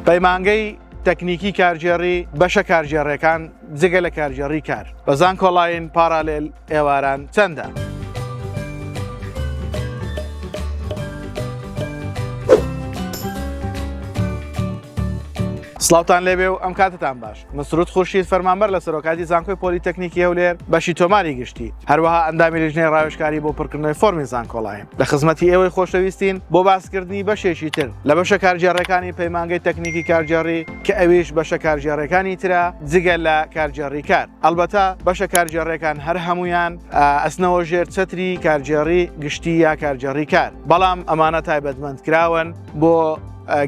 پەیمانگەی تەکنیکی کارگێڕی بەشە کارگێڕێکان جگە لە کارگێڕی کار بە زانکۆڵین پارالێل ئێواران چەندە؟ سلااوان لێبێ و ئەم کاتتان باش مسرود خورشید فەرمانبەر لە سەرۆکاتی زانکۆی پۆلیتەکنیکی هەولێر بەشی تۆماری گشتی هەروەها ئەندامی لیژنەی ڕاوشکاری بۆ پڕکردنەوەی فۆرمی زانکۆڵایە لە خزمەتی ئێوەی خۆشەویستین بۆ باسکردنی بەشێکی تر لە بەشە کارگێڕەکانی پەیمانگەی تەکنیکی کارگێڕی کە ئەویش بەشە کارگێڕەکانی ترە جگە لە کارگێڕی کار ئەلبەتە بەشە کارگێڕەکان هەر هەمویان ئەسنەوە ژێر چەتری کارگێڕی گشتی یا کارگێڕی کار بەڵام ئەمانە تایبەتمەند کراون بۆ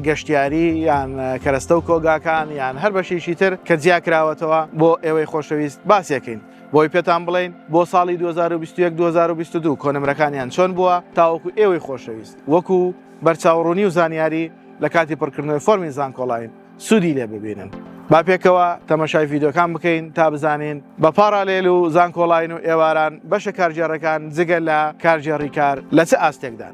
گەشتیاری یان کەرەستە و کۆگاکان یان هەر بەشێکی تر کە جیاکراوەتەوە بۆ ئێوەی خۆشەویست باسیەکەین بۆی پێتان بڵین بۆ ساڵی 2021 2022 کۆنمرەکانیان چۆن بووە تاوەکو ئێوەی خۆشەویست وەکو بەرچاوڕوونی و زانیاری لە کاتی پڕکردنەوەی فۆرمی زانکۆڵین سوودی لێ ببینن. با پێکەوە تەمەشای ڤیدۆکان بکەین تا بزانین بە پاڕالێل و زانکۆڵین و ئێواران بەشە کارگێڕەکان جگە لە کارگێڕی کار لە چ ئاستێکدان.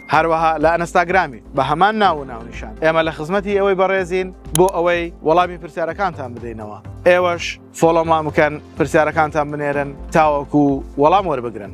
هەروەها لە ئەنستاگرامی بە هەمان ناو و ناونیشان ئێمە لە خزمەتی ئەوەی بەڕێزین بۆ ئەوەی وەڵامی پرسیارەکانتان بدەینەوە ئێوەش فۆڵۆمان بکەن پرسیارەکانتان بنێرن تاوەکو وەڵام وەربگرن